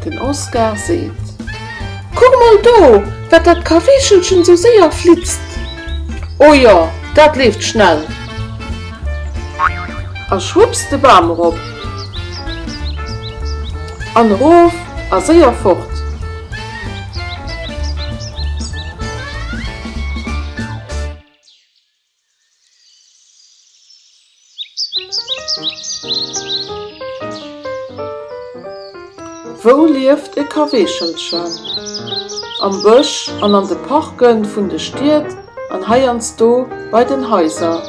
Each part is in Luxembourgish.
Den Oscar seet, Kuck mol do, wat dat Kaweechelchen esou séier flitzt! O jo, dat leeft schnell! A schwupps de Bam erop an erof a séier fort! Wou lieft e Kaweechelchen? Am Bësch an an de Parke vun de Stied an heiansdo bei den Haiser.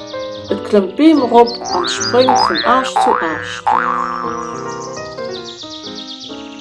Et klëmmt d'Beem erop an spréngt vun Aascht zu Aascht.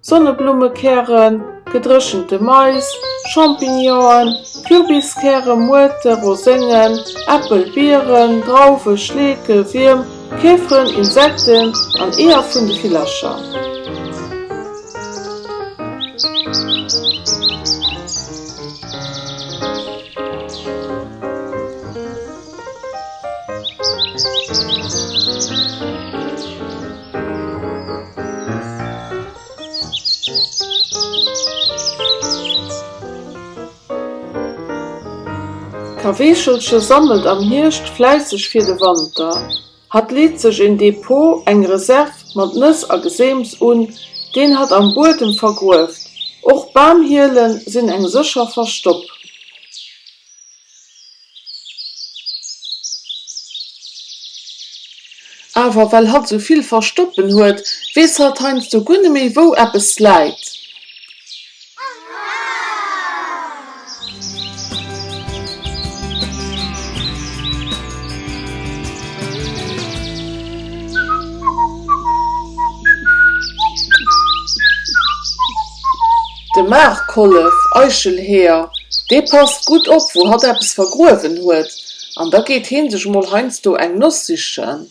Sonneblummekären, gedréchente Mais, Champignonen, Kürbiskären, Muerte, Roséngen, Äppel, Bieren, Drauwen, Schleeke, Wierm, Käferen, Insekten an Eeër vun de Villercher. D'Kaweechelche sammelt am Hierscht fläisseg fir de Wanter. Hatt leet sech en Depot, eng Reserv, mat Nëss a Geseems un, deen hatt am Buedem vergrueft. Och Bamhielen sinn eng sécher Verstopp. Awer well hatt esou vill Verstoppen huet, weess hatt heiansdo guer net méi, wou eppes läit. De Maarkollef, Eichelheeër, dee passt gutt op, wou hatt eppes vergruewen huet, an da geet hee sech mol heiansdo eng Noss sichen.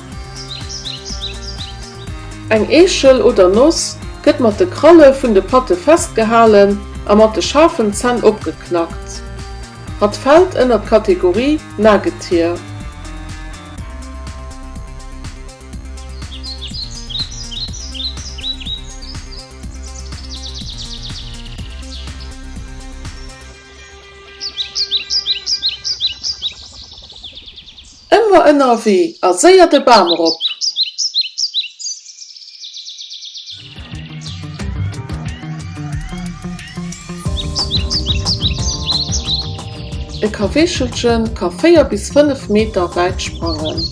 Eng Eechel oder Noss gëtt mat de Kralle vun de Patte festgehalen a mat de schaarfen Zänn opgeknackt. Hatt fält ënner d'Kategorie Nagetier. Ëmmer ënnerwee a séier de Bam erop! E Kaweechelche ka 4 bis 5 Meter wäit sprangen.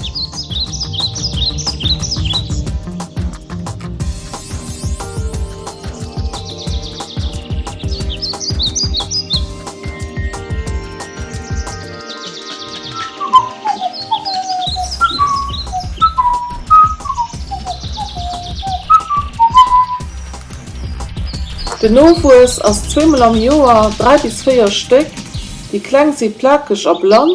Den Nowuess ass zweemol am Joer, dräi bis véier Stéck. Déi Kleng si plakeg a blann.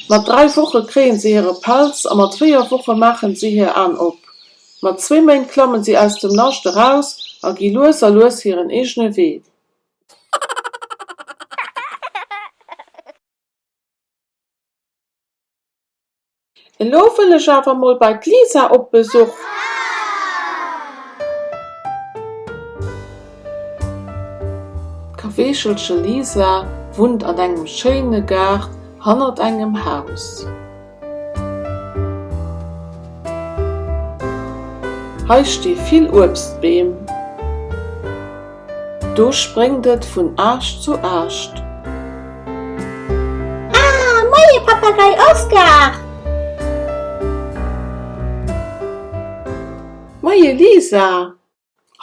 Mat dräi Woche kréie se hire Pelz a mat véier Woche maache si hir Aen op. Mat zwee Méint klamme si aus dem Nascht eraus a gi lues a lues hiren eegene Wee. Elo wëll ech awer mol bei d'Lisa op Besuch. D'Kaweechelche Lisa wunnt an engem schéine Gaart hannert engem Haus. Hei sti vill Uebstbeem. Do spréngt et vun Aascht zu Aascht. Ah, moie Papagei Oskar! Moie Lisa!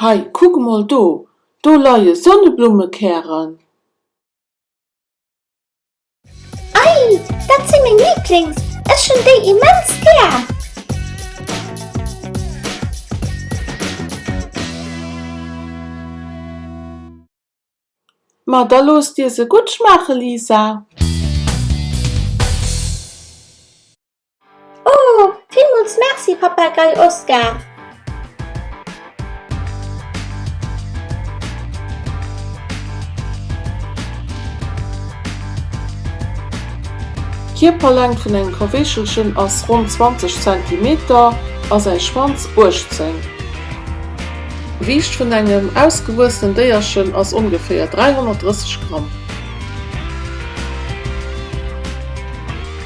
Hei, kuck mol do, do leie Sonneblummekären. Ei, dat si meng Lieblings, ech hunn déi immens gär! Ma da looss dir se gutt schmaache Lisa! Oh, villmools Merci, Papagei Oskar! D'Kierperlängt vun engem Kaweechelchen ass ronn 20 Zentimeter a säi Schwanz 18. D'Gewiicht vun engem ausgewuessenen Déierchen ass ongeféier 330 Gramm.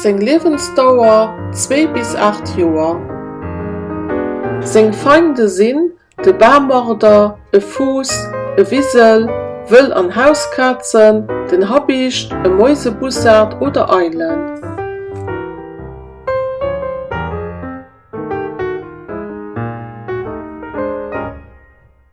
Seng Liewensdauer zwee bis aacht Joer. Seng Feinde sinn de Barmorder, e Fuuss, e Wisel, wëll an Hauskazen, den Habicht, e Mäusebussard oder Eilen.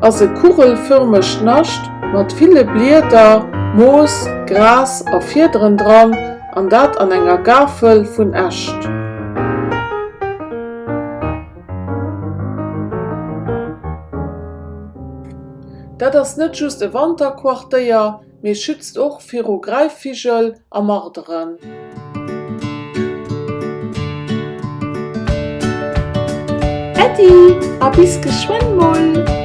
ass e kugelfërmegt Nascht mat ville Blieder, Moos, Gras a Fiederen dran, an dat an enger Gafel vun Äscht. Dat ass net just e Wanterquartéier. mee schützt och viru Greifvigel a Marderen. Äddi a bis geschwënn mol!